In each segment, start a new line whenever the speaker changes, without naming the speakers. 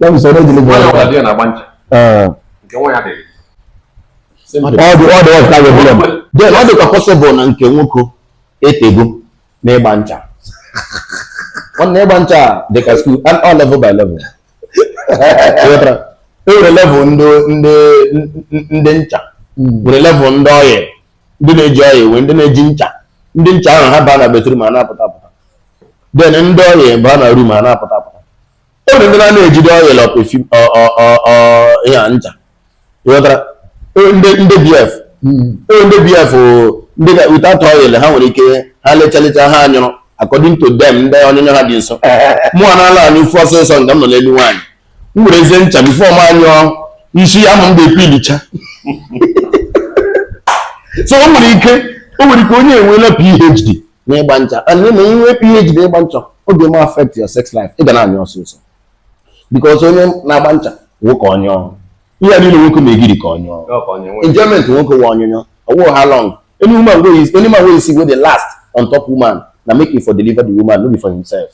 ya bụ sọ
na-edeliver Nwaanyị ọbụla di ya na-agba ncha. Ee. Nke
nwaanyị dịrị. Simple. ọ dị ọ dị ọka ya bụla m then ọ dịkwa possible na nke nwoke etego na ịgba ncha nwanne ịgba ncha a dị ka school and all level by level Ịghọtara? e nwere level ndị ndị ndị ncha nwere level ndị oil ndị na-eji oil nwee ndị na-eji ncha ndị ncha ahụ ha baa na bathroom ha na-apụta apụta then ndị oil baa na room ha na-apụta apụta o nwere ndị na na-ejide oil or perfume ya ncha ịghọtara ndị ndị BF hmm. ndị BF ndị ga without oil ha nwere ike ha lechalecha ha anyụrụ according to them ndị ọnyụnyụ ha dị nso mụwa na-ala anyụfụ ọsịsọ nke m nọ n'elu nwaanyị m werezie ncha before m anyụọ isi amụ m ga-epeelicha so o nwere ike o nwere ike onye enweela PhD na ịgba ncha and na inwe PhD na ịgba ncha ọ ga-eme affect your sex life ị ga na-anyụ ọsịsọ because onye na-agba ncha nwoke ọ nyụọ ihe a niile nwoke na-egiri ka ọ nyụọ enjoyment nwoke wụ ọnyụnyụ ọ wụ how long any woman wey is any man wey you see wey dey last on top woman na make him for deliver the woman no be for himself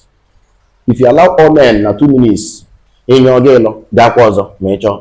if you allow all men na two minutes ị nyụọ ga ịlụ gaakwa ọzọ ma ị chọọ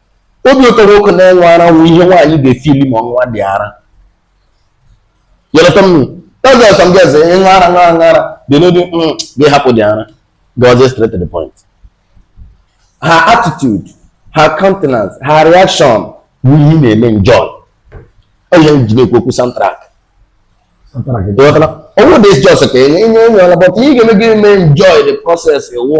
obi ụtọ nwoke na-enwe ara wụ ihe nwaanyị ga-efeel ma ọ ṅụwadị ara yọrọta mmiri tọzọ ọsọ ndị ọzọ ịṅụ ara ṅụ ara ṅụ ara dị n'obi mm, gị hapụdị ara gazie straight to the point her attitude her countenance her reaction bụ ihe na-eme enjoy ọ ihe e ji na-ekwu okwu soundtrack ọ wụdị just ka enye enye ọla but ihe ga-eme gị mee enjoy the process wụ